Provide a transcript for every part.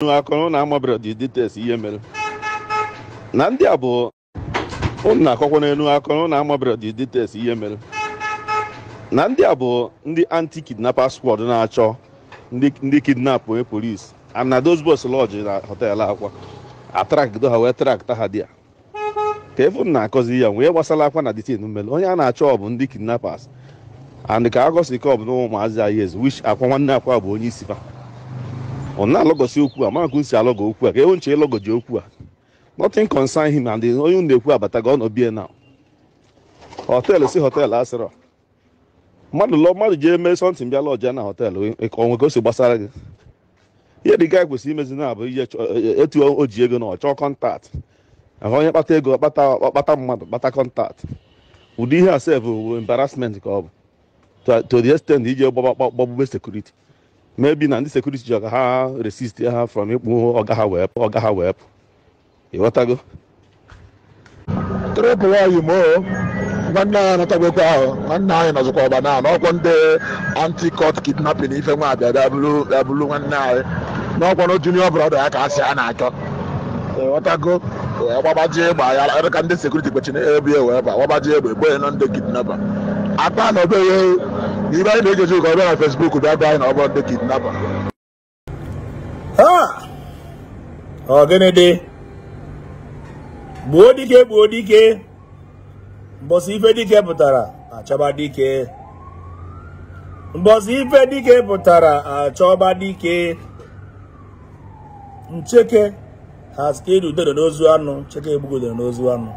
unu akọrọ na ụnụ amabere the details ihe mere na ndị a bụ ụnụ na-akọkwa n'elu akọrọ na ụnụ amabere the details ihe mere na ndị a bụ ndị anti kidnappers squad na-achọ ndị ndị kidnap onye polis and na those boys lodge na hotel akwa a trakdo ha wee trakta ha dia kee ife unu na-akọzi ya nwee ihe gbasara akwa na the thing mere onye a na-achọ bụ ndị kidnappers and ka agosi ka ọ bụ na ụmụazị anyị ezi which akwa nwanne akwa bụ onye isi fa ọ na-alọgọsi okwu a maka unu si alọgọ okwu a ka ewu nche ịlọgọji okwu a nothing concern him and onye na-ekwu abatago ọ nọ bie na họteelụ si họteelụ asịrọ mmadụ lọ mmadụ jee mee sọntịn bịa lọjịa na họteelụ o nwe ka o si gbasara gị ihe dị gaa kwesịrị imezi na-abụ ihe chọ- e- e- etu o ji ego na ọ chọọ kọntaktị ahụ onye kpata ego kpata ọkpata mmadụ kpata kọntaktị ụdị ihe a sef bụ embarrassment ka ọ bụ to- to the extent iji gbagba- gbagba- gbagbube sekuriti maybe na ndị sekuriti ji ọga ha resist ha from ịkpụ ọga ha wee pụ ịghọtago trepụ nwaanyị mo nwanne anyị anatagokwa ahụ nwanne anyị nọzikwa ọba na n'ọkwọ ndị anti cult kidnapin ife nwa abịa bịa bụrụ bịa bụrụ nwanne anyị n'ọkwọ na junior brọda ya ka a sị a na-achọ ịghọtago wee gbabaji egbe ya ka ndị sekuriti kpechiri ebe wee ba gbabaji egbe gbuonụ ndị kidnapa akpa na obere na ibe anyị na-egeji ụka ọ bịa na fesbuk bịa gwa anyị na ọ bụrụ ndị kidnapa ọ gịnị dị gbuo dike gbuo dike mbọsị ife dike pụtara a chọba dike mbọsị ife dike pụtara a chọba dike ncheke has killed udere n'ozu anụ ncheke egbugo udere n'ozu anụ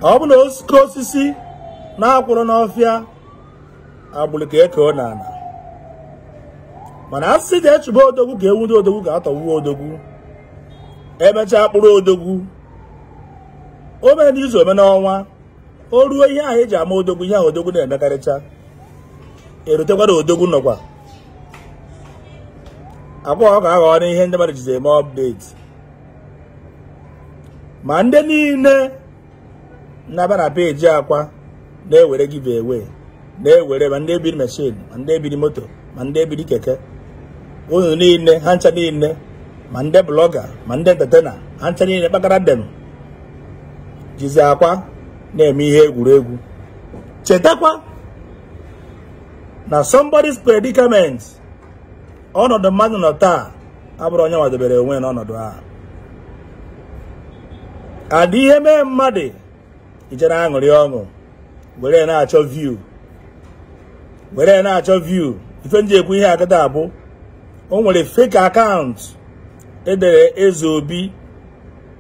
ọ bụ na osisi na-akwụrụ n'ọfịa agbụrụ ka ekeo na ana mana a sị ka e chụba odogwu ka e nwudo odogwu ka a tọgbuo odogwu emechaa kpụrụ odogwu o mere n'izu o mee n'ọnwa o ruo ihe ahụ e ji ama odogwu ihe ahụ odogwu na-emekarịcha erutekwara odogwu nụkwa akwa ọkụkọ aghọọna ihe ndị mmadụ jizi eme update ma ndị niile na-aba na peji akwa na-ewere give away na-ewere ma ndị ebiri machine ma ndị ebiri moto ma ndị ebiri keke unu niile ha ncha niile ma ndị blọga ma ndị entetena ha ncha niile kpakara dem jizi akwa na-eme ihe egwuregwu chetakwa na somebody's predicament ọnọdụ mmadụ nọ taa abụrọ onye nwa debere onwe n'ọnọdụ a adị ihe mee mmadụ ije na-aṅụrị ọṅụ were na-achọ view were na-achọ view ife m ji ekwu ihe a kịta bụ o nwere fake account e dere eze obi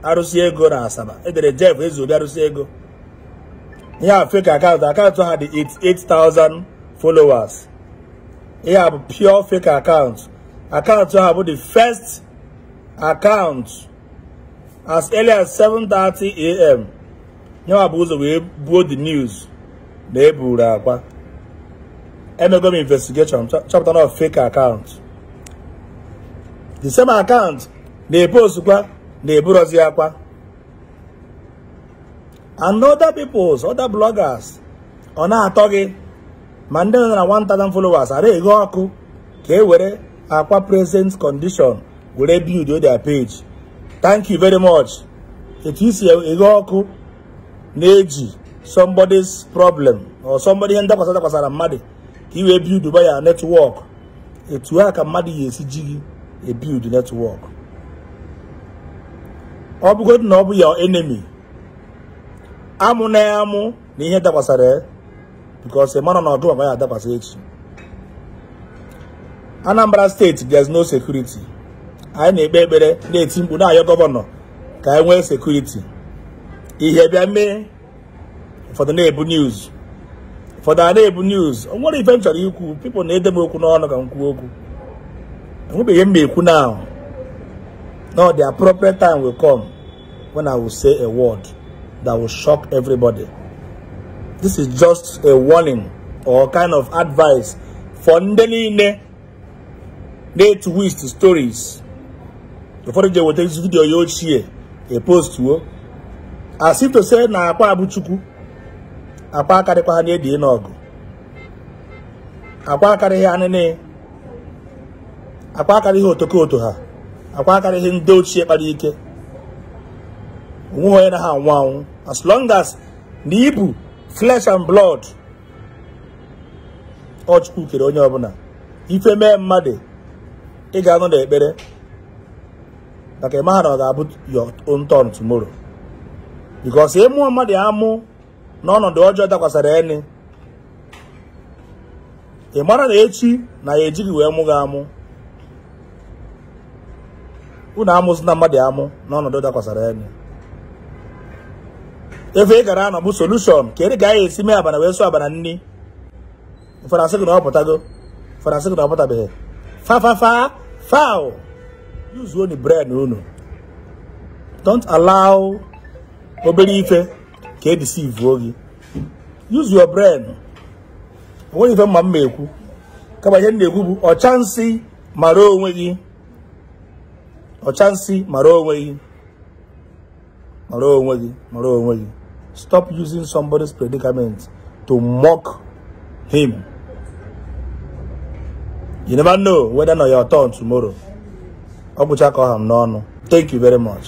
arụsị ego na Asaba e dere jef eze obi arụsị ego ihe a fake account account ha dị 88,000 followers ihe a bụ pure fake account account ha bụ the first account as early as 7:30 am nyanwa bu ụzọ wee buo the news na e buru Akwa emego m investigation chọpụta na fake account the same account na-epostkwa na eburozi Akwa and other peoples other bloggers ọ na-atọ gị ma ndị nọ na 1000 followers ara eghe ọkụ ka e were Akwa present condition were build their page thank you very much etu i si eghe ọkụ na-eji somebody's problem or somebody ihe ndakwasa dakwasara mmadụ ka i wee build up your network etu a ka mmadụ ya-esi ji gị ebuild network ọ bụgodị na ọ bụ your enemy amụna ya amụ na ihe dakwasara ya because ị maha na ọ gịnwa ka ọ ya-adakwasị echi Anambra state there's no security anyị na-ekpe ekpere na-eti mkpu na-ayọ governor ka anyị nwee security ihe bịa mee ụfọdụ na-ebu news ụfọdụ ana-ebu news o nwere ife m chọrọ ikwu people na-ede m okwu n'ọnụ ka m kwuo okwu enwebeghị m ekwu now no the appropriate time will come when I will say a word that will shock everybody. This is just a warning or kind of advice for ndị niile na-etwist stories. Ụfọdụ jee weta video ya ochie epostuo as if to say na Akwa bụ Chukwu Akwa akarịkwaha na Eddy Nawgu Akwa akarịghị Anini Akwa akarịghị Otokoto ha Akwa akarịghị ndị ochie kpara ike o nweghị onye na-aha anwụ anwụ as long as na ị bụ flesh and blood ọ Chukwu kere onye ọbụla ife mee mmadụ ị ga-anọ n'ekpere maka ị maha na ọ ga-abụ your own turn tomorrow because ị mụọ mmadụ amụ n'ọnọdụ ọjọọ dakwasara eni ị mara na echi na ya eji gị wee mụ gị amụ unu amụzina mmadụ amụ n'ọnọdụ dakwasara eni ife ị gara anọ bụ solution ka ị ga ya esi mee abana wee sụọ abana nni ụfọdụ asị gị na ọ pụtago ụfọdụ asị gị na ọ pụtabeghị fa fa fa foul yuzuo nụ brain unu don't allow obere ife ka e deceive-uo gị use your brain onweghị ife m ma m na-ekwu kama ihe m na-ekwu bụ ọcha nsị mara onwe gị ọcha nsị mara onwe gị mara onwe gị mara onwe gị stop using somebody's predicament to mock him you never know whether na your turn tomorrow ọ gwụcha ka ọ ha m n'ọnụ thank you very much